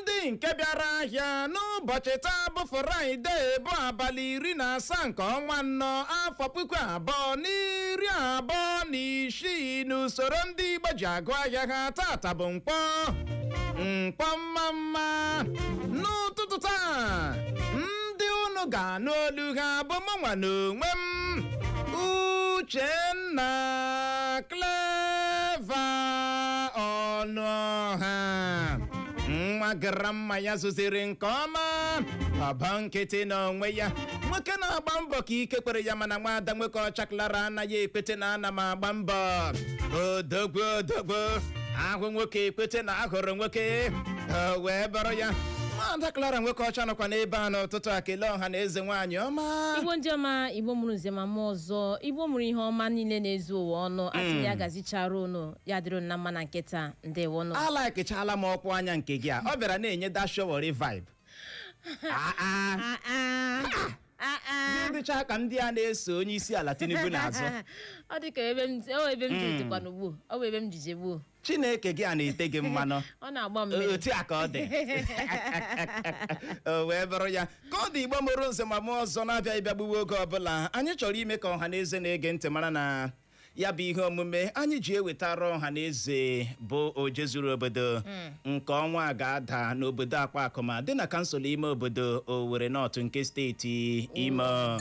ndị nke bịara ahịa n'ụbọchị taa bụ fraịde bụ abalị iri na asaa nke ọnwa nnọ afọ puku abụọ na iri abụọ na isii n'usoro ndị igbo ji agụ ahịa ha tata bụ nkwọ nkwọ mma mma n'ụtụtụ taa ndị unu ga-anụ olu ha bụ mụnwa n'onwe m uchenna clever ọnụọha nwa grandma ya zụziri nke ọma ọba nkịtị n'onwe ya nwoke na-agba mbọ ka ike kwere ya mana nwaada nwokeọcha klara anaghị ekwete na ana m agba mbọ odogwu odogwu a hụ nwoke e kwete na a hụrụ nwoke o wee bụrụ ya nwaada klara nwokeọcha nọkwa n'ebe a n'ụtụtụ a kelee ọha na eze nwaanyị ọma igbo ndị ọma igbo mụrụ nze ma mụ ọzọ igbo mụrụ ihe ọma niile na-ezu ụwa ọnụ a sị ya gazichaara unu ya dịrị unu na mma na nke taa ndewonụ alaikichala m ọkwa anya nke gị a ọ bịara na-enye the Sowore vibe Ah, ah. Ah, ah. Ah, ah. ndị dịcha ka ndị a na-eso onye isi ala tinubu n'azụ ọ dị ka ebe m ọ ebe m jiri dịkwa n'ugbo ọ bụ ebe m jije gbuo chineke gị a na-ete gị mmanụ ọ na-agba mmiri otu a ka ọ dị o wee bụrụ ya ka ọ dị igbo mụrụ nze ma mụ ọzọ na-abịaghị bịa gbuwe oge ọbụla anyị chọrọ ime ka ọha na eze na-ege ntị mara na ya bụ ihe omume anyị ji ewetara ọha na eze bụ ojezuru obodo nke ọnwa a ga-ada n'obodo akwakụma dị na kansụl ime obodo Owerri North nke steeti Imo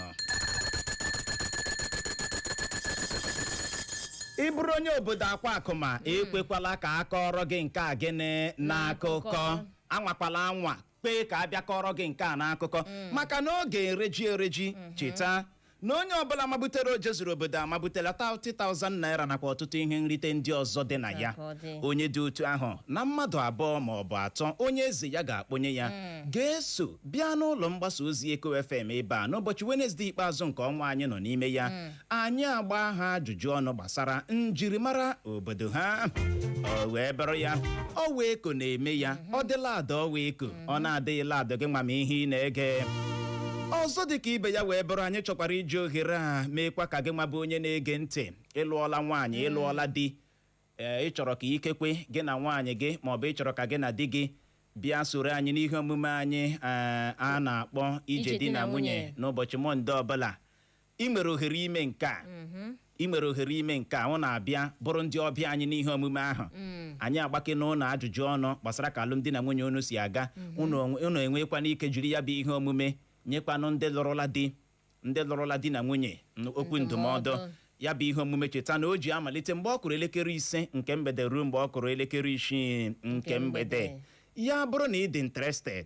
ị bụrụ onye obodo akwakụma ekwekwala ka a kọọrọ gị nke a gịnị n'akụkọ anwakwala anwa kwee ka a bịa kọọrọ gị nke a n'akụkọ maka na ọ ga-ereji ereji cheta na onye ọbụla mabutere ojezuru obodo amabutela 30,000 naira nakwa ọtụtụ ihe nrite ndị ọzọ dị na ya onye dị otu ahụ na mmadụ abụọ ma ọ bụ atọ onye eze ya ga-akpọnye ya ga-eso bịa n'ụlọ mgbasa ozi Eko FM ebe a n'ụbọchị Wenezdee ikpeazụ nke ọnwa anyị nọ n'ime ya anyị agbaa ha ajụjụ ọnụ gbasara njirimara obodo ha o wee bụrụ ya ọwa eko na-eme ya ọ dịla ada ọwa eko ọ na-adịghịla ada gị nwa ma ihe ị na-ege ọzọ dị ka ibe ya wee bụrụ anyị chọkwara iji ohere a meekwa ka gị nwa bụ onye na-ege ntị ị lụọla nwaanyị ị lụọla di ee ị chọrọ ka ikekwe gị na nwaanyị gị maọbụ ị chọrọ ka gị na di gị bịa soro anyị n'ihe omume anyị ee, a na-akpọ ije di na nwunye n'ụbọchị mọnde ọbụla ị nwere ohere ime nke a ị nwere ohere ime nke a unu abịa bụrụ ndị ọbịa anyị n'ihe omume ahụ anyị agbakene unu ajụjụ ọnụ gbasara ka alụmdi na nwunye unu si aga unu enwekwana ike jiri ya bụ ihe omume nyekwanụ ndị lụrụla di na nwunye okwu ndụmọdụ ya bụ ihe omume cheta na o ji amalite mgbe ọ kụrụ elekere ise nke mgbede ruo mgbe ọ kụrụ elekere isii nke mgbede ya bụrụ na ị dị interested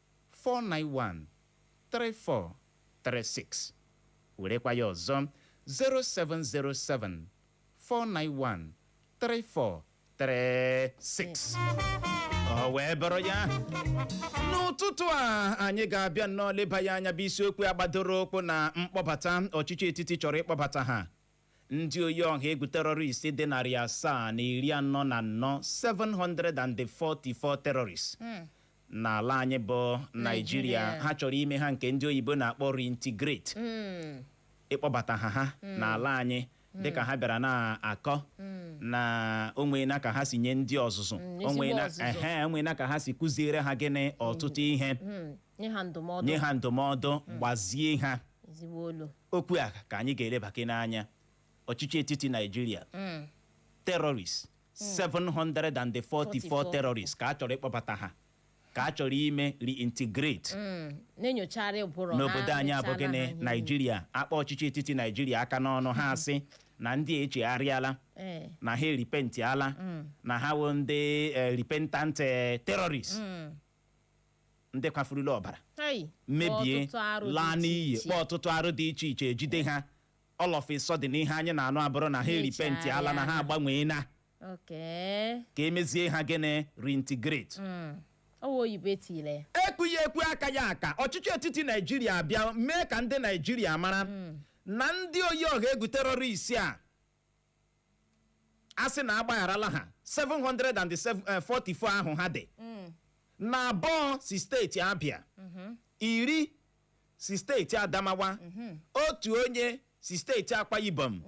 491-3436 werekwa ya ọzọ 0707 491 3436 o wee bụrụ ya n'ụtụtụ a anyị ga-abịa nnọọ leba ya anya bụ isiokwu a gbadoro ụkwụ na mkpọbata ọchịchị etiti chọrọ ịkpọbata ha Ndị oyi ọha egwu terrorist dị narị asaa na iri anọ na anọ 744 terrorists n'ala anyị bụ Naijiria ha chọrọ ime ha nke ndị oyibo na-akpọ reintegrate ịkpọbata ha ha n'ala anyị dịka ha bịara na-akọ na o nweena ka ha si nye ndị ọzụzụ ehe, o nweena ka ha si kuziere ha gịnị ọtụtụ ihe nye ha ndụmọdụ gbazie ha okwu a ka anyị ga-elebake n'anya ọchịchị etiti naijiria terrorists 744 terrorists ka a chọrọ ịkpọbata ha ka a chọrọ ime reintegrate n'obodo anyị a bụ gịnị naijiria akpa ọchịchị etiti naijiria aka n'ọnụ ha asị na ndị a echegharịala na ha eripentiala na ha wụ ndị repentant terrorists ndị kwafurula ọbara mebie laa n'iyi kpaa ọtụtụ arụ dị iche iche ejide ha all of a sudden ihe anyị na-anụ abụrụ na ha eripentiala na ha agbanweena ka e mezie ha gịnị reintegrate ekwu ya ekwu aka ya aka ọchịchị etiti naijiria abịa mee ka ndị naijiria mara na ndị oyi ọha egwu terrorist a a sị na agbagharala ha 744 ahụ ha dị na abụọ si steeti Abia iri si steeti Adamawa otu onye si steeti Akwa Ibom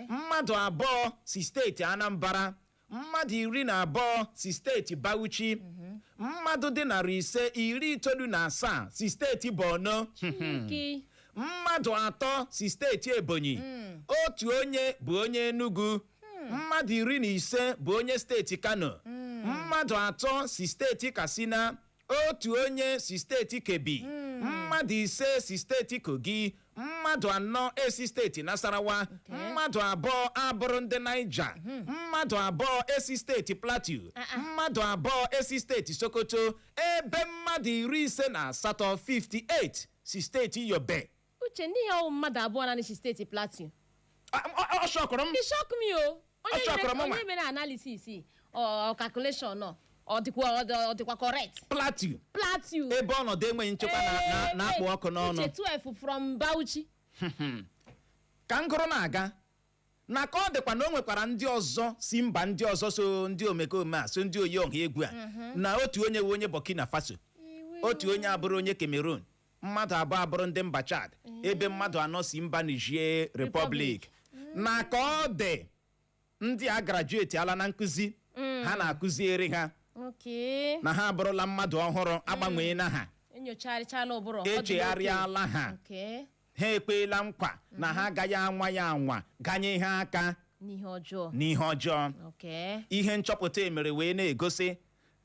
mmadụ abụọ si steeti Anambra mmadụ iri na abụọ si steeti Bauchi mmadụ dị narị ise iri itoolu na asaa si steeti Borno Chineke. mmadụ atọ si steeti Ebonyi otu onye bụ onye Enugu mmadụ iri na ise bụ onye steeti Kano mmadụ atọ si steeti Katsina otu onye si steeti Kebbi mmadụ ise si steeti Kogi mmadụ anọ esi steeti Nasarawa mmadụ abụọ abụrụ ndị Niger mmadụ abụọ esi steeti Plateau mmadụ abụọ esi steeti Sokoto ebe mmadụ iri ise na asatọ 58 si steeti Yobe uche ndị ihe ọwụ mmadụ abụọ naanị si steeti plateau Ah, m- ọ- ọ shọkụrụ m It shock me o Ọ onye shọkwara mere- mụnwa. onye mere analysis or calculation nọ ọ dịkwa ọ dị- ọ dịkwa correct plateau plateau ebe ọnọdụ enweghị nchekwa na- na- na-akpụ ọkụ n'ọnụ uche 12 from bauchi ka ngụrụ na-aga na ka ọ dịkwa na o nwekwara ndị ọzọ si mba ndị ọzọ so ndị omekome a so ndị oyi ọha egwu a na otu onye wụ onye burkina faso otu onye abụrụ onye cameroon mmadụ abụọ abụrụ ndị mba Chad ebe mmadụ anọ si mba Niger Republic na ka ọ dị ndị a grajueti ala na nkụzi ha na-akụziere ha Okay. na ha abụrụla mmadụ ọhụrụ agbanwee na ha Enyocharịchala ụbụrụ. ọ dị echegharịala n'oke. ha Okay. ha ekweela nkwa na ha agaghị anwa ya anwa ganye ha aka N'ihe ọjọọ. n'ihe ọjọọ Okay. ihe nchọpụta emere wee na-egosi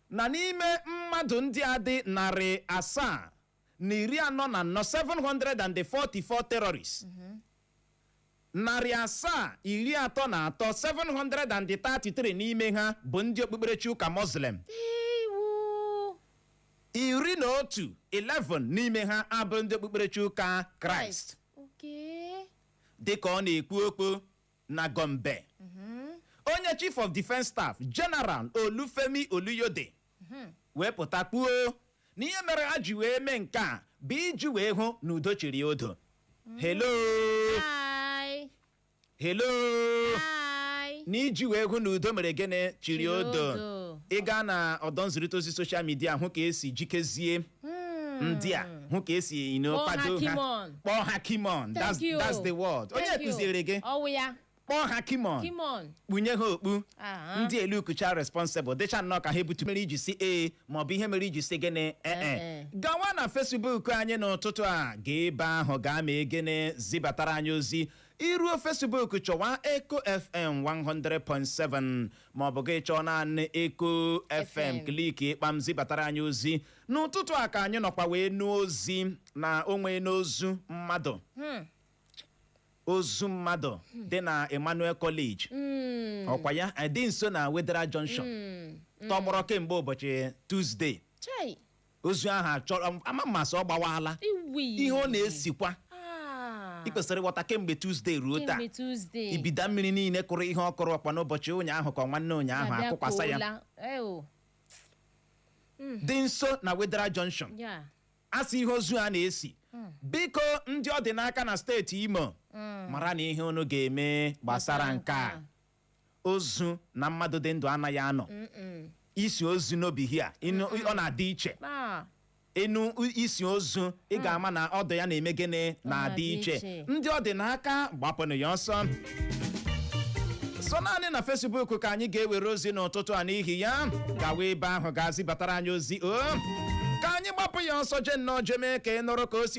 na n'ime mmadụ ndị a dị narị asaa na iri anọ na anọ 744 terrorists narị asaa iri atọ na atọ 733 n'ime ha bụ ndị okpukperechi ụka muslim ewu iri na otu 11 n'ime ha abụrụ ndị okpukperechi ụka kraịst okay dịka ọ na-ekwu okwu na Gombe onye chief of defence staff general Olufemi Oluyode wee pụta kwuo na ihe mere ha ji wee mee nke a bụ iji wee hụ na udo chiri odo hello Hi. hello Hi. na iji wee hụ na udo mere gịnị chiri Chiri odo odo. ị gaa na ọdọ nzirịta ozi soshal midia hụ ka esi jikezie ndị a hụ ka esi you know, Kpọọ ha kwado Kimon. kpọọ ha kimon Thank that's, you. that's the word onye Thank you. kụziere gị ọwụ ya kpọọ ha kimon kimon kpunye ha okpu Aha. ndị elukucha responsible dịcha nnọọ ka ha ebutu mere iji si ee maọbụ ihe mere iji si gịnị ee Eh-eh. gawa na fesbuk anyị n'ụtụtụ a gaa ebe ahụ gaa mee gịnị zibatara anyị ozi i ruo fesbuk chọwa eco fm 100.7 ma ọ bụ gị chọọ naanị eco fm kliki kpam zibatara anyị ozi n'ụtụtụ a ka anyị nọkwa wee nụ ozi na o nwere ozu mmadụ ozu mmadụ dị na emmanuel college ọkwa ya eh, dị nso na wetheral junction tọgbọrọ kemgbe ụbọchị tuzdee Chai. ozu ahụ achọrọ ama ma asị ọ gbawala Ewu. ihe ọ na-esikwa Ah. ị kwesịrị ịghọta kemgbe Tuzdee ruo taa Kemgbe Tuzdee. ibida mmiri niile kụrụ ihe ọ kụrụ ọkwa n'ụbọchị ụnyaahụ ka ọ nwanne ụnyaahụ Na-abịa akụkwasa ya koola. Eh, o. dị nso na Wetheral Junction Ya. asị ihe ozu a na-esi biko ndị ọ dị n'aka na steeti Imo maranụ ihe unu ga-eme gbasara nke a ozu na mmadụ dị ndụ anaghị anọ isi ozu no be here ọ na-adị iche a nụ isi ozu ị hmm. ga-ama na odour ya na-eme gịnị na-adị iche ndị ọ dị n'aka gbapụnụ ya ọsọ so naanị na Facebook ka anyị ga-ewere ozi n'ụtụtụ a n'ihi ya gawa ebe ahụ ga-azibatara anyị ozi o oh. ka anyị gbapụ ya ọsọ je nnọọ jeme ka ị nụrụ ka o si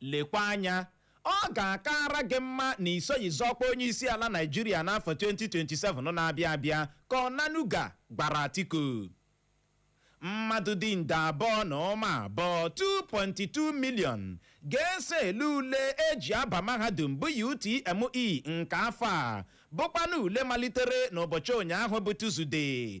Lekwa anya, ọ ga-akaara gị mma na i soghị zọọ ọkwa onyeisiala Naịjirịa n'afọ 2027 na-abịa abịa, ka Onanuga gwara Atiku. Mmadụ dị nde abụọ na ụma abụọ, 2.2 million, ga-eso ele ule e ji aba mahadum bụ UTME nke afọ a, bụkwanụ ule malitere n'ụbọchị ụnyaahụ bụ Tọzdee,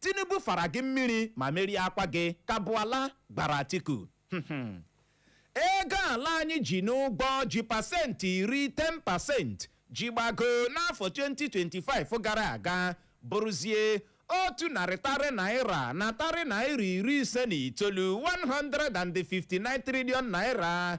Tinubu fara gị mmiri ma meriekwa gị, ka Bwala gwara Atiku. Ego ala anyị ji n'ụgwọ ji pasenti iri 10 percent ji gbagoo n'afọ 2025 gara aga bụrụzie otu narị tarị naira na tarị naira iri ise na itoolu 159 trillion naira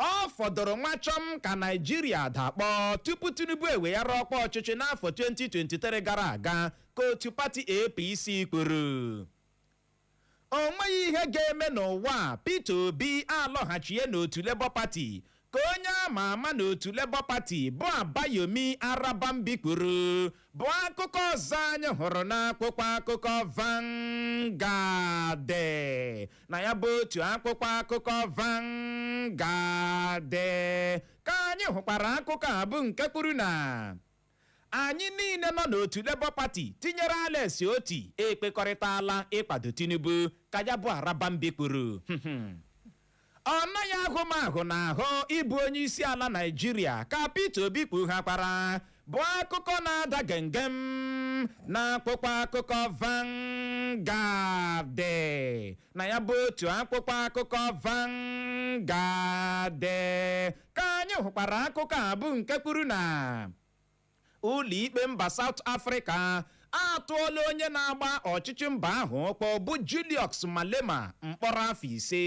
Ọ fọdụrụ nwa chọm ka Naịjirịa dakpọọ tupu Tinubu eweghara ọkwa ọchịchị n'afọ 2023 gara aga ka otu pati APC kwuru. O nweghị ihe ga-eme n'ụwa a, Peter Obi alọghachie n'otu Labour Party, ka onye a ma ama n'otu Labour Party bụ Abayomi Arabambi kwuru, bụ akụkọ ọzọ anyị hụrụ n'akwụkwọ akụkọ Vanguard. na ya bụ otu akwụkwọ akụkọ Vanguard ka anyị hụkwara akụkọ a bụ nke kwuru na anyị niile nọ n'otu Labour Party tinyere Alex Otti ekwekọrịtala ịkwado Tinubu ka ya bụ Arabambi kwuru ọ naghị ahụ m ahụ n'ahụ ịbụ onye isi ala Naịjirịa ka Peter Obi kpughakwara bụ akụkọ na-ada gem gem n'akwụkwọ akụkọ Vanguard na ya bụ otu akwụkwọ akụkọ Vanguard ka anyị hụkwara akụkọ a bụ nke kwuru na ụlọikpe mba South Africa atụọla onye na-agba ọchịchị mba ahụ ọkpọ bụ Julius Malema mkpọrọ afọ ise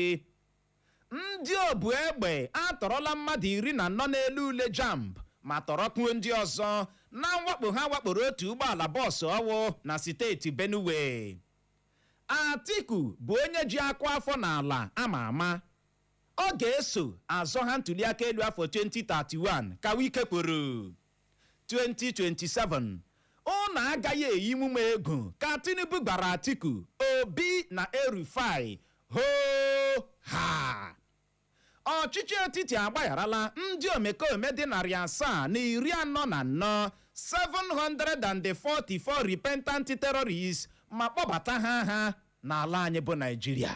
Ndị obu egbe atọrọla mmadụ iri na anọ na-ele ule JAMB ma tọrọkwuo ndị ọzọ na mwakpo ha wakporo otu ụgbọala bọọsụ ọwụ na siteeti Benue. Atiku bụ onye ji akụ afọ n'ala a ma ama. Ọ ga-eso azọ ha ntuliaka elu afọ 2031 ka Wike kwuru. 2027 ụnụ agaghị eyinwu m egwu ka Tinubu gwara Atiku, Obi na El-Rufai hoo haa. Ọchịchị etiti agbagharala ndị omekome dị narị asaa na iri anọ na anọ, 744 repentant terrorists ma kpọbata ha ha n'ala anyị bụ Naịjirịa.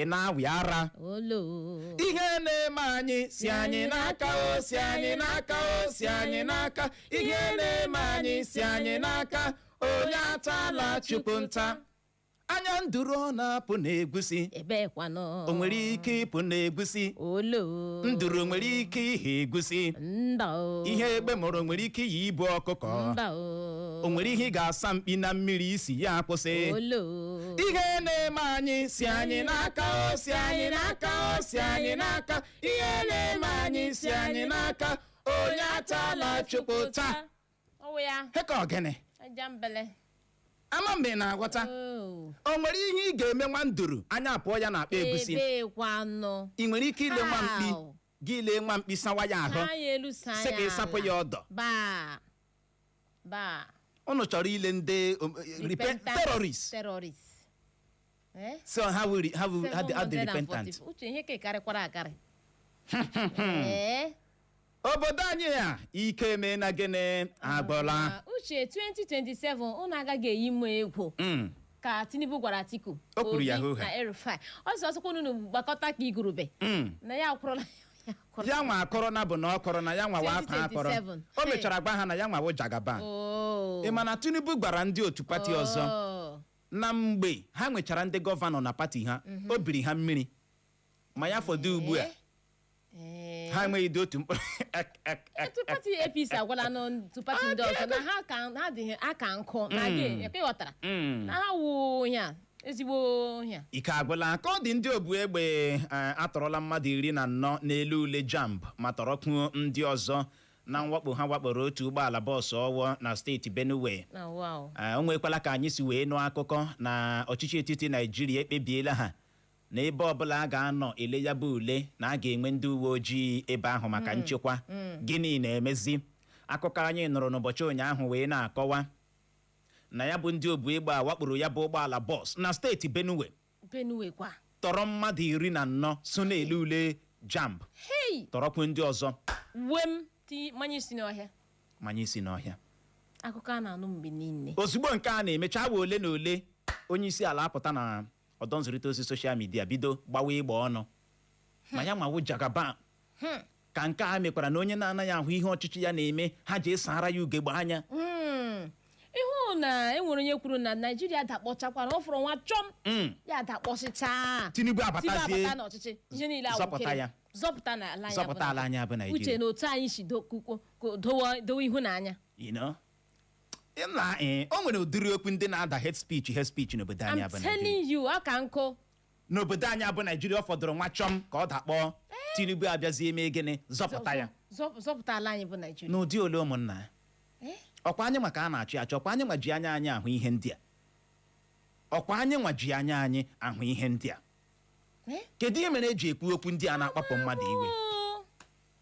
ị na-awị ara olo ihe na-eme anyị si anyị n'aka o si anyị n'aka o si anyị n'aka ihe na-eme anyị si anyị n'aka onye atala chukwu ụta anya nduru ọ na-apụ n'egusi ebe kwanụ o nwere ike ịpụ n'egusi olo nduru nwere ike ihe egusi mba o ihe egbe mụrụ nwere ike iyi ibu ọkụkọ mba o o nwere ihe ị ga-asa mkpi na mmiri isi ya akwụsị olo ihe na-eme anyị si anyị n'aka o si anyị n'aka o si anyị n'aka ihe na-eme anyị si anyị n'aka onye atala chukwu ụta ọ wụ ya heka ọ gịnị ajambele ama mgbe ị na-aghọta Oo. o nwere ihe ị ga-eme nwa nduru anya apụọ ya na akpa egusi ebee kwanụ ị nwere ike ile nwa mkpi How? gị lee nwa mkpi sawa ya ahụ saa ya elu saa sị ya ka ị sapụ ala. ya ọdọ baa baa ụnụ chọrọ ile ndị um, eh, repen- Repentance terrorist terrorist Eh? so ha wiri ha wiri ha dị- ha dị 740. repentant uche ihe ka karịkwara akarị Ee. obodo anyị a ike mee na gịnị agwụla Ah, uche 2027 unu agaghị eyinwu m egwu Mm. ka tinubu gwara atiku O kwuru ya Obi hoo ha. na El-Rufai ọ sị ọ sọkwa unu gbakọta ka igurube Mm. na ya akwụrụla ya akwụrụla. ya nwa akọrọ na bụ na ọ kọrọ na ya nwa wa akọ akọrọ 2027. o mechara gwa ha na ya nwa wụ jagaban Oo. ị ma na tinubu gwara ndị otu pati ọzọ Oo. na mgbe ha nwechara ndị gọvanọ na pati ha o biri ha mmiri ma ya fọdụ ugbu a Ee. ha enweghịdị otu mkpụrụ ek- ek- ek- otu pati apc agwala n'otu pati ndị ọzọ na ha ka ha dịghị aka nkụ na gị ekwe ghọtara Mm. na ha wụ ihe a ezigbo ihe a ike agwụla ka ọ dị ndị obu egbe eh, atọrọla mmadụ iri na anọ na-ele ule jamb ma tọrọkwuo ndị ọzọ na mwakpo ha wakporo otu ụgbọala bọọsụ ọwọ na steeti benue na wow Eh, o nwekwala ka anyị si wee nụ akụkọ na ọchịchị etiti naijiria ekpebiela ha na ebe ọbụla a ga-anọ ele ya bụ ule na a ga-enwe ndị uwe ojii ebe ahụ maka nchekwa gịnị na-emezi akụkọ anyị nụrụ n'ụbọchị ụnyaahụ wee na-akọwa na ya bụ ndị obu egbe a wakporo ya bụ ụgbọala bọs na steeti benue benue kwa tọrọ mmadụ iri na anọ so na-ele ule jamb hei tọrọkwu ndị ọzọ uwe m ti manye isi n'ọhịa manye isi n'ọhịa akụkọ a na-anụ mgbe niile ozugbo nke a na-emecha awa ole na ole onye isi ala apụta na ọdọ nzirịta ozi soshal midia bido gbawa ịgba ọnụ ma ya nwawo jagaban ka nke a mekwara na onye na-anaghị ahụ ihe ọchịchị ya na-eme ha ji esara ya ugegbe anya Mm. ịhụ na enwere onye kwuru na naijiria dakpọchakwara ọ fọrọ nwa chọm Mm. ya dakpọsịchaa tinubu tiba abatazie abata n'ọchịchị ihe niile awụkere. Zọpụta ya. zọpụta n'ala anyị bụ zọpụta ala anyị bụ uche naijiria na otu anyị si do- kwukwo- ko- dowe dowe ihu n'anya you know? na ee o nwere ụdịrị okwu ndị na-ada hate speech hate speech n'obodo anyị I'm bụ Naijiria telling you ọ ka nkụ n'obodo anyị bụ Naijiria ọ fọdụrụ nwa chọm ka ọ dakpọọ Tinubu abịazie mee gịnị zọpụta ya Zọ- zọpụta ala anyị bụ Naijiria n'ụdị ole ụmụnna ya Eh? ọkwa anyị nwa ka a na-achị achị ọkwa anyị nwa ji anya anyị ahụ ihe ndị a ọkwa anyị nwa ji anya anyị ahụ ihe ndị a Eh? kedu ihe mere eji ekwu okwu ndị a na-akpapụ mmadụ iwe Oh.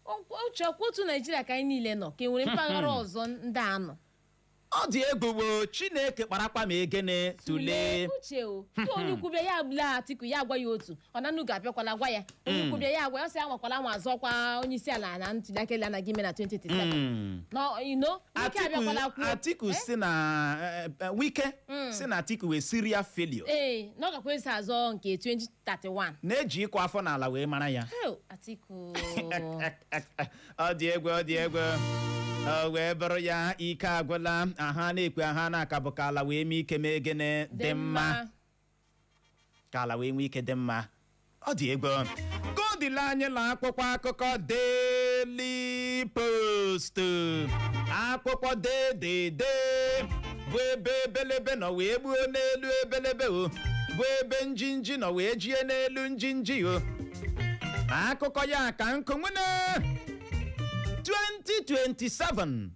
Ọkwa- uche ọkwa otu naijiria ka anyị niile nọ ka e nwere mpaghara ọzọ ndị a nọ ọ dị egwu o chineke kparakpa ma egene tụlee uche o ka onye ukwu bịa ya agbula atiku ya agwa ya otu onanuga abịakwala gwa ya onye ukwu bịa ya agwa ya ọ sị ya anwakwala anwa zọkwa onye isi ala na ntuliaka elu a na-aga ime na 2027 Mm. na wike abịakwala atiku kwuo atiku Eh? sị na eh, eh, wike sị na atiku wụ serial failure ee na ọ gakwa esi azọ nke 20 31 na e ji ịkụ afọ n'ala wee mara ya Heo, Atiku ọ dị egwu ọ dị egwu o wee bụrụ ya ike agwụla ihe a na-ekwu ihe a na-aka bụ ka ala wee nwee ike mee gịnị dị mma ka ala wee nwee ike dị mma ọ dị egwu ka ọ dịla anyị na akwụkwọ akụkọ Daily Post akwụkwọ dedede bụ ebe ebelebe nọ wee gbuo n'elu ebelebe o bụ ebe njinji nọ wee jie n'elu njinji o akụkọ ya ka nkụ nwene 2027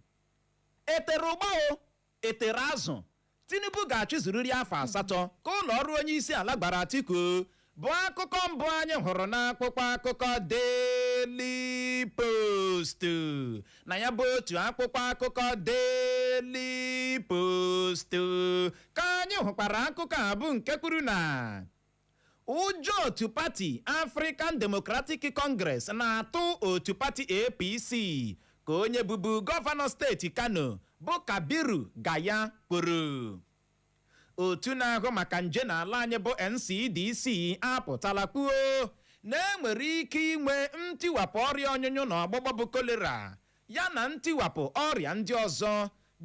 etere ụgba o etere azụ tinubu ga-achịzuriri afọ asatọ ka ụlọ ọrụ onye isi ala gbara atiku bụ akụkọ mbụ anyị hụrụ n'akwụkwọ akụkọ Daily Post na ya bụ otu akwụkwọ akụkọ Daily Post ka anyị hụkwara akụkọ a bụ nke kwuru na ụjọ otu pati African Democratic Congress na-atụ otu pati APC ka onye bụbu gọvanọ steeti Kano bụ Kabiru Gaya kwuru Otu na-ahụ maka nje n'ala anyị bụ NCDC apụtala kwuo na e nwere ike inwe ntiwapụ ọrịa ọnyụnyụ na ọgbụgbọ bụ kolera ya na ntiwapụ ọrịa ndị ọzọ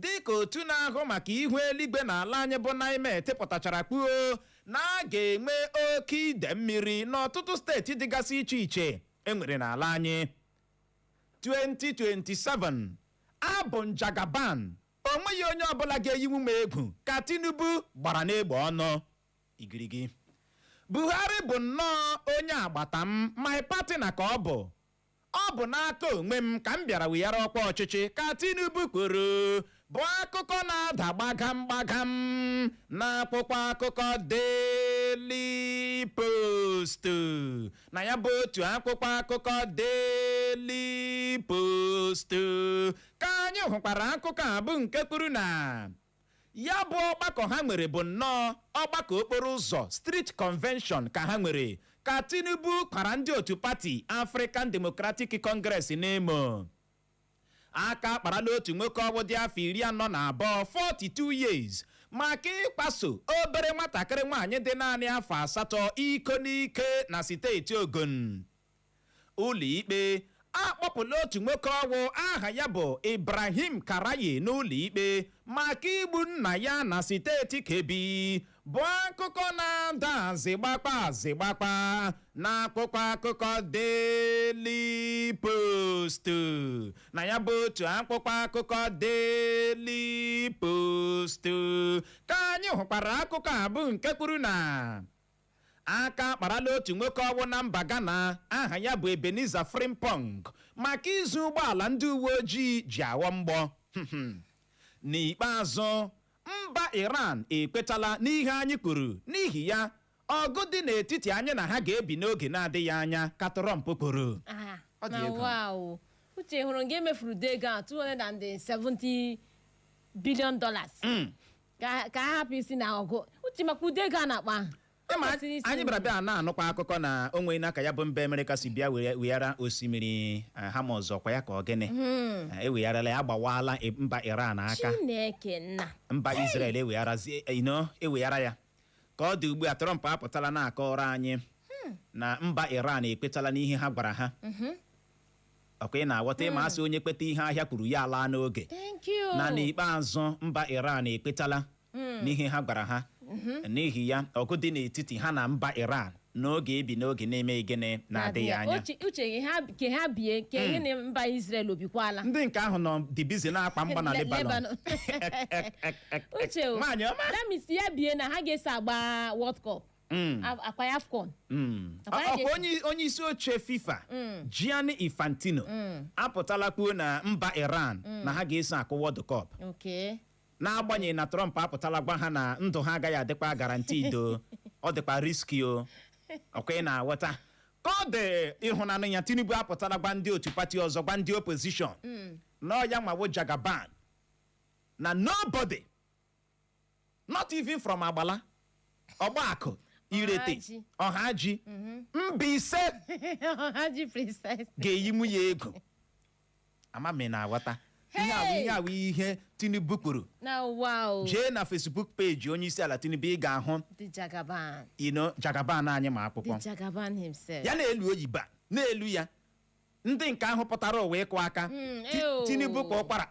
dịka otu na-ahụ maka ihu eluigwe n'ala anyị bụ NIMET pụtachara kwuo na a ga-enwe oke ide mmiri n'ọtụtụ steeti dịgasị iche iche enwere n'ala anyị 2027 abụ m Jagaban O nweghị onye ọbụla ga-eyinwu m egwu, ka Tinubu gbara n'egbe ọnụ. Igirigi. Buhari bụ nnọọ onye agbata m, my partner ka ọ bụ. Ọ bụ n'aka onwe m ka m bịara weghara ọkwa ọchịchị, ka Tinubu kwuru, bụ akụkọ na-ada gbagam gbagam n'akwụkwọ akụkọ Daily Post. Na ya bụ otu akwụkwọ akụkọ Daily Post Ka anyị hụkwara akụkọ a bụ nke kwuru na ya bụ ọgbakọ ha nwere bụ nnọọ ọgbakọ okporo ụzọ street convention ka ha nwere ka Tinubu kwara ndị otu pati African Democratic Congress n'emo aka akparala otu nwoke ọwụ dị afọ iri anọ na abụọ 42 years maka ịkwaso obere nwatakịrị nwaanyị dị naanị afọ asatọ iko n'ike na steeti Ogun Ụlọikpe akpọpụla otu nwoke ọwụ aha ya bụ Ibrahim Karaye n'ụlọikpe maka igbu nna ya na steeti Kebbi bụ akụkọ na-ada azịgbakpa azịgbakpa n'akwụkwọ akụkọ Daily Post na ya bụ otu akwụkwọ akụkọ Daily Post ka anyị hụkwara akụkọ a bụ nke kwuru na Aka akparala otu nwoke ọwụ na mba Ghana aha ya bụ Ebenezer Frimpong maka izu ụgbọala ndị uwe ojii ji aghọ mgbọ. N'ikpeazụ, mba Iran ekwetala n'ihe anyị kwuru n'ihi ya ọgụ dị n'etiti anyị na ha ga-ebi n'oge na-adịghị anya ka Trump kwuru. Ah, Ọ dị na ego. wow. Uche hụrụ nga e mefuru ụdị ego a 270 billion dollars Mm. ka ka ha hapụ isi na ọgụ Uche maka ụdị ego a na-akpa ahụ O Ịma, kwesịrị isi anyị nri. bịara bịa na-anụkwa akụkọ na o nwena ka ya bụ mba Amerịka si bịa were- weghara osimiri eh, Hormuz ọkwa ya ka ọ gịnị Eh, ewegharala ya agbawaala i- mba Iran aka Chineke nna mba Israel ewegharazie eh, you know, eweghara ya ka ọ dị ugbu a Trump apụtala na-akọrọ anyị na mba Iran ekwetala n'ihe ha gwara ha ọkwa ị na-aghọta ịma a sị onye kweta ihe ahịa kwuru ya alaa n'oge thank you na n'ikpeazụ mba Iran ekwetala n'ihe ha gwara ha n'ihi ya ọgụ dị n'etiti ha na mba Iran n'oge ebi n'oge na-eme gịnị na-adịghị anya Uche- uche gị ha- ke ha bie ke ihe na mba Israel o bikwala ndị nke ahụ nọ dị busy na-agba mgba na Le- lebanon Lebanon. Ek, ek, ek, ek. Uche o nwaanyị ọma that means ya bie na ha ga-eso agba World Cup A- akwa ya afcon Akwa ya Ọ- ga-esi- onye onye isi oche fifa gianni infantino apụtala kwuo na mba iran na ha ga-eso akụ world cup okay n'agbanyeghị na trump apụtala gwa ha na ndụ ha agaghị adịkwa guaranteed ọ dịkwa riski o ọkwa ị na-aghọta ka ọ dị ị hụnanụ ya tinubu apụtala gwa ndị otu pati ọzọ gwa ndị opozishọn na ọ ya nwa wụ jagaban na nobody not even from agbala ọgbakụ irete Ọhaji. ọhaji mbaise ha ji precise ga-eyinwu ya egwu ama m ị na-aghọta ihe a wụ Hey! ihe a wụ ihe tinubu kwuru na wa o jee na facebook peji onye isi ala tinubu ị ga-ahụ the jagaban ino jagaban anyị ma dị akwụkwọ jagaban himself ya na-elu oyiba na-elu ya ndị nke ahụ pụtara ụwa ịkụ aka Mm, Ti- ew. tinubu kwaa ụkwara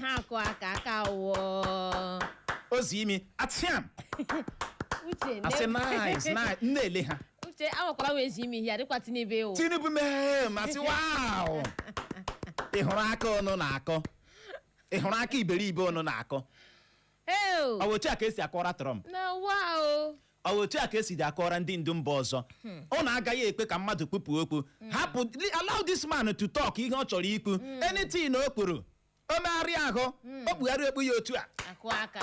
ha akụ aka aka wụọ o zie imi atiam uche asị ne- nice nice na-ele ha uche awakwara wee zi imi ihe ya dịkwa tinubu ewu tinubu mee mm asị wow ị hụrụ aka ụnụ na-akụ ị hụrụ aka iberibe ụnụ na-akụ ew ọ bụ otu a ka esi akụra trump na wa o Ọ bụ otu a ka esi dị akụra ndị ndu mba ọzọ ụnụ agaghị ekwe ka mmadụ kwupụ okwu hapụ li- allow this man to talk ihe ọ chọrọ ikwu anything o kwuru o megharịa ahụ o kpugharị okpu ya otu a akụ aka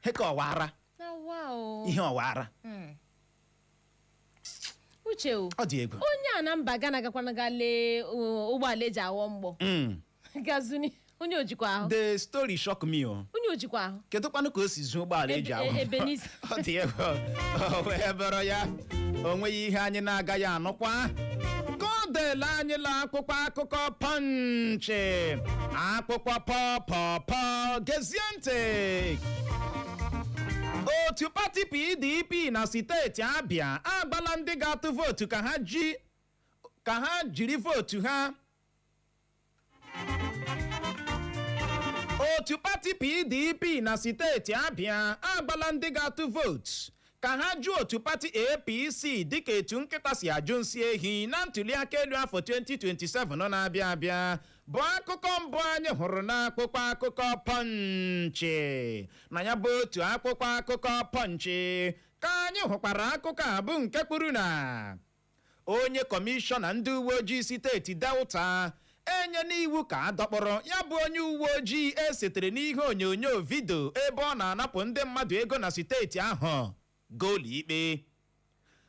he ka ọwara na wa o ihe ọwara Mm. uche o ọ dị egwu onye a na mba gana gakwana ga lee uh, ụgbọala eji agha mgbọ Mm. gazuni onye ojikwa ahụ the story shock me o onye ojikwa ahụ kedu kwanụ ka o si zuo ụgbọala eji Ebe- ahụ ebe n'isi. ọ dị egwu o wee buru ya o nweghị ihe anyị na-agaghị anụkwa ka ọ dịla anyị la akwụkwọ akụkọ pọnchị akwụkwọ pọpọpọ gezie ntị otu pati pdp na steeti abia agwala ndị ga-atụ vootu ka ha ji ka ha jiri vootu ha otu pati pdp na steeti abia agwala ndị ga-atụ vootu ka ha jụ otu pati APC dịka etu nkịta si ajụ nsị ehi na ntuliaka elu afọ 2027 na-abịa abịa bụ akụkọ mbụ anyị hụrụ n'akwụkwọ akụkọ pọnchị na ya bụ otu akwụkwọ akụkọ pọnchị ka anyị hụkwara akụkọ a bụ nke kwuru na onye kọmishọna ndị uwe ojii steeti delta enyena iwu ka a dọkpụrụ ya bụ onye uwe ojii e setere n'ihe onyonyo vidio ebe ọ na-anapụ ndị mmadụ ego na steeti ahụ gaa ụlọikpe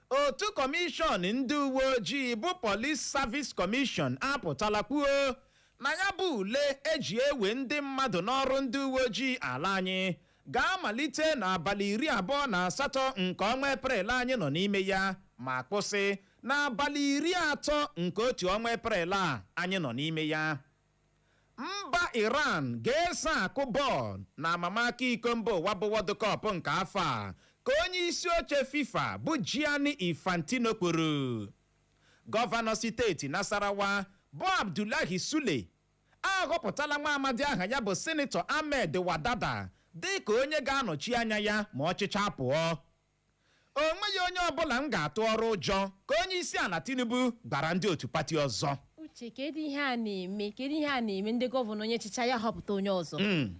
otu kọmishọn ndị uwe ojii bụ Police Service Commission apụtala kwuo na ya bụ ule eji ewe ndị mmadụ n'ọrụ ndị uwe ojii ala anyị ga-amalite n'abalị iri abụọ na asatọ nke ọnwa eprel anyị nọ n'ime ya ma kwụsị n'abalị iri atọ nke otu ọnwa eprel a anyị nọ n'ime ya mba iran ga-eso akụ bọọlụ na amamaka iko mba ụwa bụ World Cup nke afọ a ka onye isi oche fifa bụ Gianni Infantino kwuru gọvanọ steeti Nasarawa bụ Abdullahi Sule ahọpụtala nwa amadi aha ya bụ Sinetọ Ahmed Wadada dịka onye ga-anọchi anya ya ma ọ chịchaa pụọ. O nweghị onye ọbụla m ga-atụọrụ ụjọ, ka onyeisiala Tinubu gwara ndị otu pati ọzọ. uche kedu ihe a na-eme kedu ihe a na-eme ndị gọvanọ onye chịcha ya họpụta onye ọzọ Mm.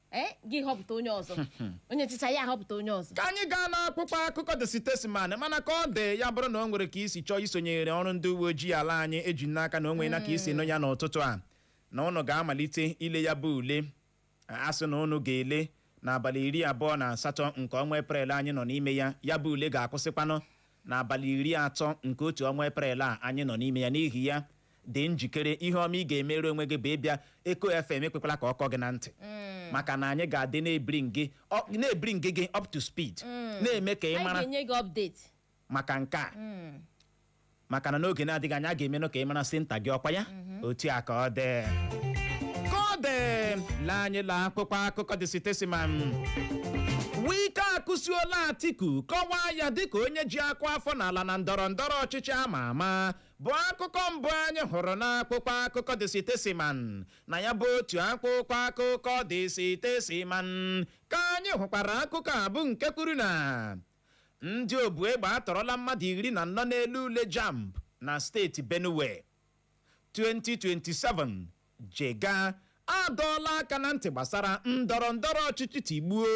ee gị họpụta onye ọzọ onye chịcha ya họpụta onye ọzọ ka anyị gaa n'akwụkwọ akụkọ The Statesman mana ka ọ dị ya bụrụ na o nwere ka i si chọọ isonyere ọrụ ndị uwe ojii ala anyị eji m n'aka na o nweena ka i si nụ ya n'ụtụtụ a na ụnụ ga-amalite ile ya bụ ule a sị na ụnụ ga-ele n'abalị iri abụọ na asatọ nke ọnwa eprel anyị nọ n'ime ya ya bụ ule ga-akwụsịkwanụ n'abalị iri atọ nke otu ọnwa eprel a anyị nọ n'ime ya n'ihi ya dị njikere ihe ọma ị ga-emere onwe gị bụ ịbịa eko fm ekwekwala ka ọ kọ gị na ntị maka na anyị ga-adị na-ebring gị ọ- na-ebring gị up to speed na-eme ka ị mara anyị ga-enye gị update maka nke a maka na n'oge na-adịghị anya a ga-emenụ ka ị mara senta gị ọkwa ya otu a ka ọ dị ka ọ dị lee anyị la akwụkwọ akụkọ The Statesman wike akụsiola atiku kọwaa ya dịka onye ji akụ afọ n'ala na ndọrọ ndọrọ ọchịchị ama ama bụ akụkọ mbụ anyị hụrụ n'akwụkwọ akụkọ The Statesman na ya bụ otu akwụkwọ akụkọ The Statesman ka anyị hụkwara akụkọ a bụ nke kwuru na ndị obu egbe atọrọla mmadụ iri na anọ na-ele ule jamb na steeti Benue 2027 jega adọọla aka na ntị gbasara ndọrọ ndọrọ ọchịchị tigbuo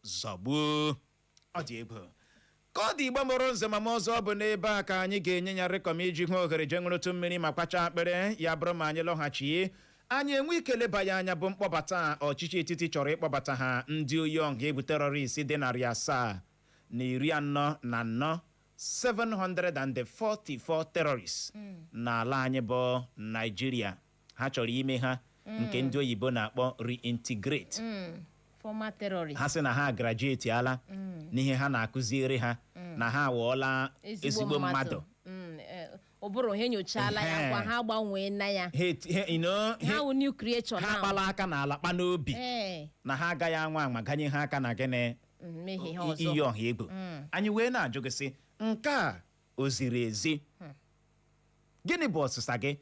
zọgbuo ọ dị egwu ka ọ dị igbo mụrụ nze ma mụọ ọzọ ọ bụ n'ebe a ka anyị ga-enye ya rịkọm iji hụ ohere jee ṅụrụtụ mmiri ma kwacha akpịrị ya bụrụ ma anyị lọghachi anyị enwe ike leba ya anya bụ mkpọbata ọchịchị etiti chọrọ ịkpọbata ha ndị oyi ọha egwu terọrist dị narị asaa na iri anọ na anọ 744 terrorists n'ala anyị bụ naijiria ha chọrọ ime ha nke ndị oyibo na-akpọ reintegrate former terrorist ha sị na ha graduate ala n'ihe ha na-akụziere ha na ha aghọọla ezigbo mmadụ Mm, eh, ụbụrụ ha enyochala ya Ehe. kwa ha gbanwee na ya Ha eti- ha- you know, ha ha- wụ new creature ha now. kpala aka n'ala kpa n'obi Eh, na ha agaghị anwa anwa ganye ha aka na gịnị mmehie ha iyi ọzọ ọha egwu anyị wee na-ajụ gị sị nke a o ziri ezi gịnị bụ ọsịsa gị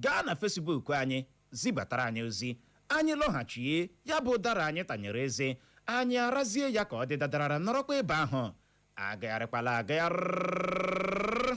gaa na Facebook anyị zibatara anyị ozi anyị lọghachie ya bụ ụdara anyị tanyere eze anyị arazie ya ka ọ dị dadarara nọrọkwa ebe ahụ agagharịkwala agagharị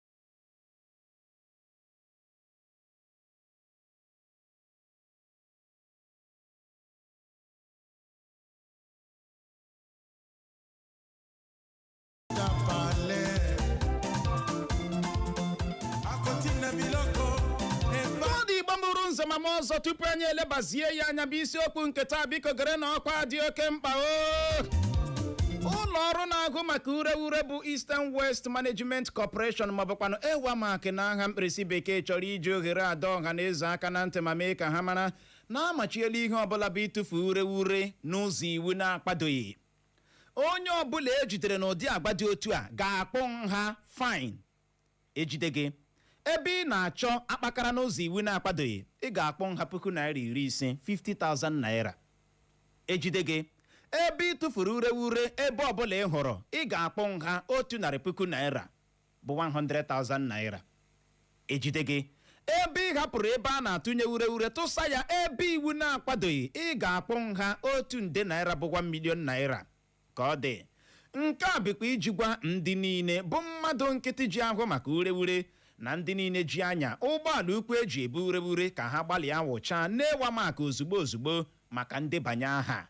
nze ma mụọ ọzọ tupu anyị elebazie ya anya bụ isiokwu nke taa biko gerenụ ọkwa dị oke mkpa o ụlọ ọrụ na-ahụ maka ureure bụ Eastern Waste Waste Management Corporation maọbụkwanụ EWAMAC na aha mkpirisi bekee chọrọ iji ohere a dọọ ọha na eze aka na ntị ma mee ka ha mara na amachiela ihe ọbụla bụ ịtụfu ure ure n'ụzọ iwu na-akwadoghị onye ọbụla ejidere n'ụdị agwa dị otu a ga-akwụ nha fine ejide gị ebe ị na-achọ akpakara n'ụzọ iwu na-akwadoghị ị ga-akwụ nha puku naira iri ise 50,000 naira ejide gị ebe ị tụfuru ureure ebe ọbụla ị hụrụ ị ga-akwụ nha otu narị puku naira bụ 100,000 naira ejide gị ebe ị hapụrụ ebe a na-atụnye ureure tụsa ya ebe iwu na-akwadoghị ị ga-akwụ nha otu nde naira bụ 1 million naira ka ọ dị nke a bụkwa iji gwa ndị niile bụ mmadụ nkịtị ji ahụ maka ureure na ndị niile ji anya ụgbọala ukwu eji ebu ureure ka ha gbalịa wụchaa n'EWAMAC ozugbo ozugbo maka ndebanye aha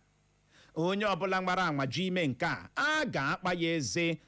onye ọbụla nwara anwa jụ ime nke a a ga-akpa ya eze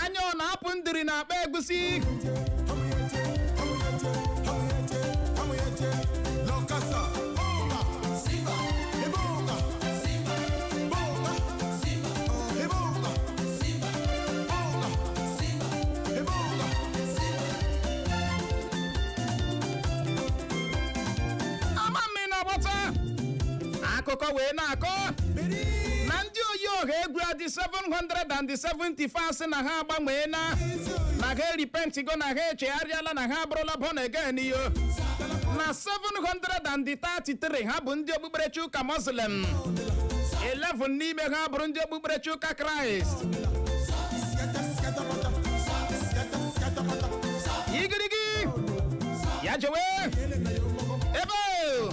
anya ọ na-apụ ndiri na akpa egusi ama mmiri na-agbata akụkọ wee na-akọ na ndị oyi ọha egwu a dị 774 sị na ha agbanwee na na ha eripentigo na ha echegharịala na ha abụrụla born again o na 733 ha bụ ndị okpukperechi ụka muslim 11 n'ime ha bụrụ ndị okpukperechi ụka kraịst igirigi ya jewe ebe o!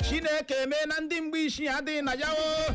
chineke mee na ndị mgbe isi adịghị na ya o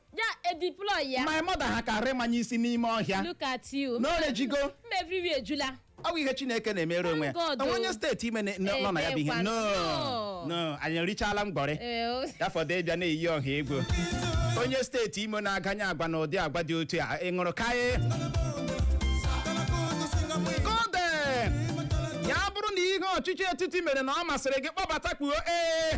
ya edeploy ya my mother ha ka remanye isi n'ime ọhịa look at you n'orejigo mba everywhere ejula ọ bụ ihe chineke na-emere onwe ya Thank God, o nwe onye oh. steeti imo na- na- nọ na ya bụ ihe Ebekwa, no no. no anyị erichaala mgbọrị Ee, o- ya fọdụ ịbịa na-eyi ọha egwu onye steeti imo na-aganye agwa na ụdị agwa dị otu a ị ṅụrụ kaye kode ya bụrụ na ihe ọchịchị etiti mere na ọ masịrị gị kpọbata kwuo ee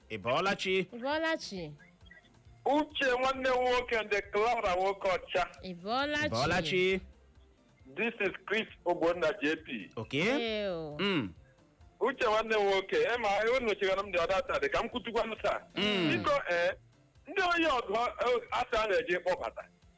ị bọọla chi ị bọọla chi uche nwanne m nwoke ndị clara nwoke ọcha ị bọọla ị bọọla chi chi this is chris ogbonna jp okay Ee o. Mm. uche nwanne m nwoke ema unu chegara m dị ọda taa dị ka m kwutukwanụ taa biko ee ndị onye ọgụ asa a na-eji kpọbata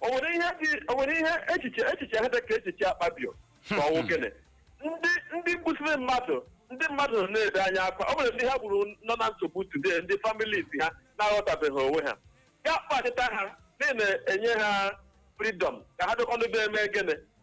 o nwere ihe dị o nwere ihe echiche echiche ha dị ka echiche akpabio ma ọ wụ gịnị ndị ndị gbusiri mmadụ ndị mmadụ nọ na-ebe anya akwa o nwere ndị ha gburu nọ na nsogbu today ndị families ha na-aghọtabeghị onwe ha ya kpachita ha na-enye ha freedom ka ha dịkwanụ be eme gịnị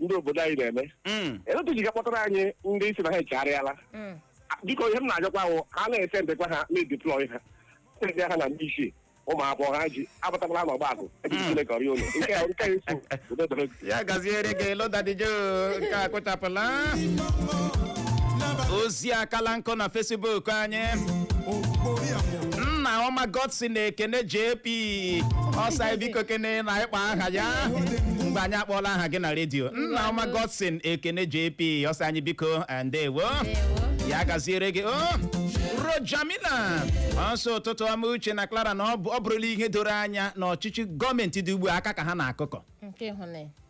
ndị obodo anyị na-eme Mm. etu ji ga-akpọtara anyị ndị sị na ha echegharịala Mm. biko ihe m na-ajụkwa ahụ ha na-esendekwa ha na-edeploy ha sendị ha na ndị isi ụmụ akwụkwọ ha ji abatakwala n'ọgba akụ ebe Mm. Chineke ọrịa ụlọ nke a- nke a eso udo dịrị gị. ya gaziere gị lodadijo nke a gụchapụla ozi akala nkụ na facebook anyị nna ọma godson ekene jp Ee, ọ sị anyị biko kene na ịkpọ aha ya mgbe anyị akpọọla aha gị na redio nna ọma godson ekene jp ọ sị anyị biko eh, ndewo ya gaziere gị o rojamina ọ sị ụtụtụ ọma uche na clara na ọ bụ- ọ bụrụla ihe doro anya na ọchịchị gọọmenti dị ugbu a aka ka ha na-akụkọ nke ịhụnanya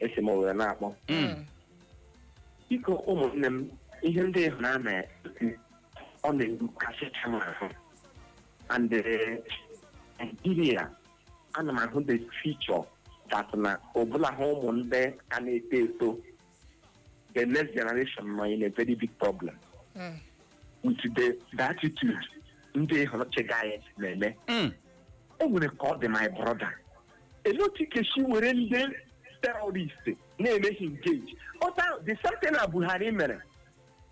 esi m owere na-akpọ Mm. biko ụmụnne m ihe ndị ịhụ na na ọ na-agbakasịcha m ahụ and eh, Nigeria ana m ahụ the future that na ọbụla ha ụmụ ndị ka na-eto eto the next generation nọ in a very big problem Mm. with the, the attitude ndị ịhụ na-achịga anyị na-eme Mm. o nwere ka ọ dị my brother elee otu ị ga-esi were ndị terrorist na-eme hị engage the same thing na buhari mere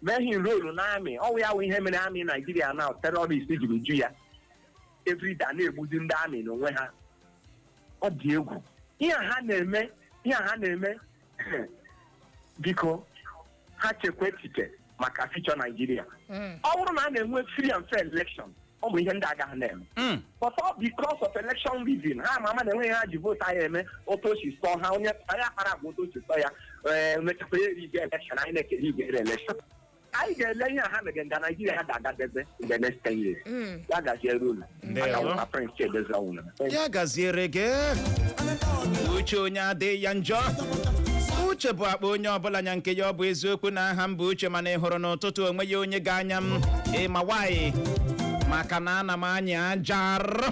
mee hị enroll na amị ọ wụ ya wụ ihe mere amị naijiria na terrorist jiri ju ya everyday a na-egbuzi ndị amị n'onwe ha ọ dị egwu ihe a ha na-eme ihe a ha na-eme biko ha chekwa echiche maka future naijiria Mm. ọ bụrụ na a na-enwe free and fair election ọ bụ ihe ndị a agaghị na-eme Mm. but all because of election rigging ha ma ama na enweghị ihe ha ji vootu anyị eme otu o si sọ ha onye onye akpara agwa otu o si sọ ya ee mechakwa ya erige election anyị na-ekere igwe election anyị ga-ele ihe a ha mere nga naijiria ya ga-agadebe in the next 10 years Mm. ya gaziere unu Ndewo. Aka nwa prince chiedozie ọnwụrụ ya gaziere gị uche onye adịghị ya njọ uche bụ akpa onye ọbụla nya nke ya ọ bụ eziokwu na aha m bụ uche mana ị hụrụ n'ụtụtụ o nweghị onye ga-anya m ị ma why maka na ana m anyị ajọ arọ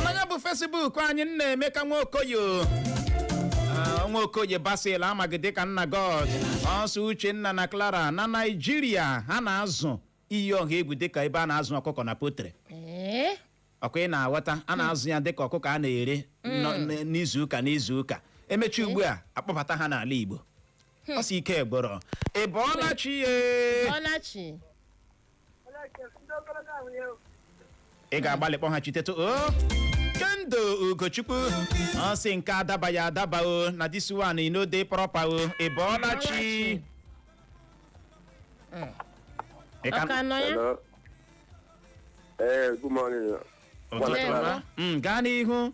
mana ya bụ fesibuk anyị nnaemeka nwaokoye Ah, nwaokoye basil a ma dịka nna god ọ sị uchenna na clara na naijiria ha na-azụ iyi ọha egwu dịka ebe a na-azụ ọkụkọ na poultry ee ọ kwa ị na-aghọta a na-azụ ya dịka ọkụkọ a na-ere nọ- n- n'izu ụka n'izu ụka emechaa ugbu a akpọbata ha n'ala igbo ọ sị ike gwụrụ ị bọọla chi ị bọọla chi ị ga-agbalị kpọghachitetụ o kendo ugochukwu ọ sị nke daba ya daba o na this one e no dey proper o ị bọọla chi Ị ka- Ọ ka nọ ya? Hello. Eh, good morning. Ụtụtụ ọma. Mm, gaa n'ihu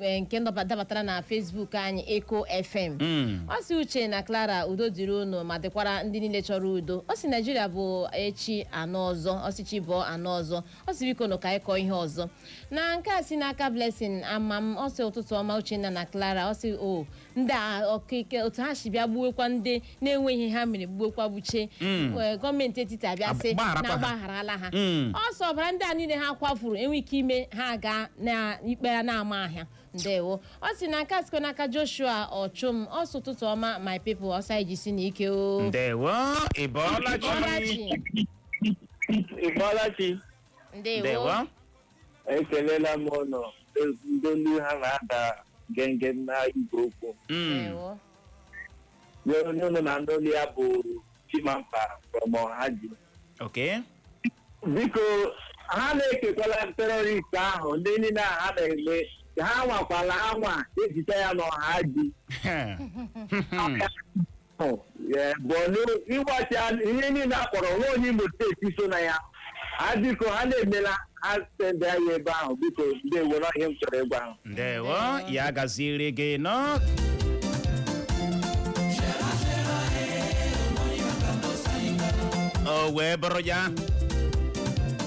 eh, nke ndọba- dabatara na Facebook anyị Eko FM Mm. ọ sị uche na clara udo dịrị unu ma dịkwara ndị niile chọrọ udo ọ sị naijiria bụ echi a nụ ọzọ ọ sị chi bọọ a nụ ọzọ ọ sị biko nụ ka anyị kọọ ihe ọzọ na nke a si n'aka blessing ama m ọ sị ụtụtụ ọma uchenna na clara ọ sị o ndị a ọkaike otu ha si bịa gbuwekwa ndị na-enweghị ihe ha mere gbuwekwa buche Ee, gọọmenti etiti abịa sị Agbagharakwa na ha. agbagharala ha Mm. ọ sị ọbara ndị a niile ha kwafuru enwe ike ime ha gaa na ikpe ya na-ama ha ndewo ọ sị na nke a sikwa n'aka joshua ọchụm ọ sị ụtụtụ ọma my people ọ sị anyị jisinụ ike o ndewo ịbọọla chi Ị bọọla chi. Ị bọọla chi. ndewo ndewo ekelela m ụnụ ndị olu ha na-ada genge na igwe okwu Mm. ndewo nye onye ụnụ na-anụ olu ya bụ chimampa from ọhaji okay biko ha na-ekekwala terrorist ahụ ndị niile a ha na-eme ka ha nwakwala anwa ezite ya n'ọhaji bọọlụ ịgbachi ihe niile a kpọrọ nwa onye imo steeti so na ya ha biko ha na-emela ha sendị anyị ebe ahụ biko ndị ewere ihe m chọrọ ịgwa ahụ ndewo ya gaziere gị nọ o wee bụrụ ya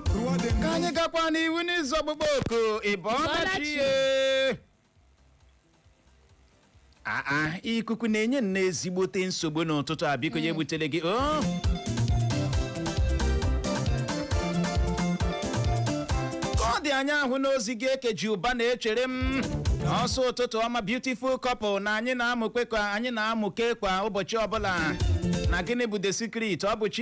ka anyị gakwa n'ihu n'iza ọkpụkpọ oku ị bọọla chi aa ikuku na-enye nnọọ ezigbote nsogbu n'ụtụtụ a biko ya ebutere gị o ka ọ dị anya ahụ n'ozi gị ekeji ụba na-echere m ọ sị ụtụtụ ọma beautiful couple na anyị na-amụke ka anyị na-amụke kwa ụbọchị ọbụla na gịnị bụ the secret ọ bụ chi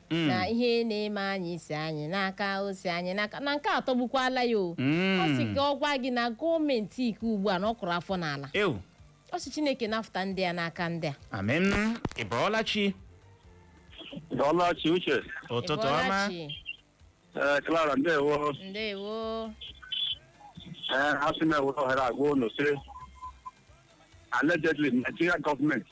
Mm. na ihe na-eme anyị si anyị n'aka o si anyị n'aka na nke a atọgbukwala ya o Mm. ọ sị ka ọ gwa gị na gọọmenti nke ugbu a na ọ kụrụ afọ n'ala ewu ọ sị chineke nafụta ndị a n'aka ndị a amem ị bọọla chi Ị bọọla chi Uche ụtụtụ ọma Ị bọọla chi. ee Clara ndewo ndewo ee asị m ewere ohere a gwa unu sị allegedly Nigeria gọọmenti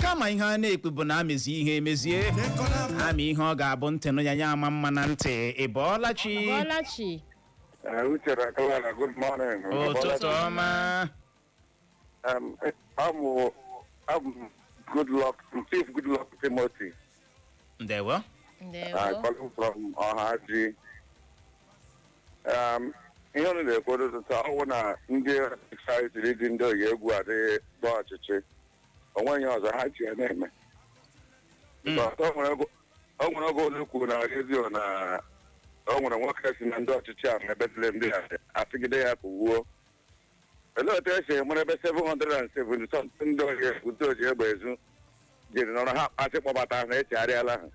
kama ihe a na-ekwu bụ na a mezie ihe emezie a mee ihe ọ ga-abụ ntị nụ ya ya ama mma na ntị ị bọọla chi Bọlachi Eh, Uche na Clara, good morning. ụtụtụ ọma Um, eh, I'm, I'm Goodluck, Chief Goodluck Timothy. ndewo ndewo I'm calling from Ohaji. Um, ihe unu na-ekwu ụtụtụ a ọ wụ na ndị ọchịchị siri dị ndị oyi egwu adịghị gba ọchịchị o nweghị ihe ọzọ ha ji ya na-eme Because o nwere oge- o nwere oge unu kwuru na redio na o nwere nwoke sị na ndị ọchịchị a mebetele ndị a a sịgide ya kwuo Olee otu e si enwere ebe 770 something ndị ohi ndị oji egbe ezu jiri nọrọ ha kpasị kpọbata na echegharịala ha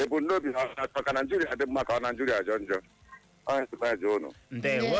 ebumnobi ha ọ na-achọ ka Naijiria dị mma ka ọ Naijiria jọọ njọ Ọ ya sị m jụọ unu ndewo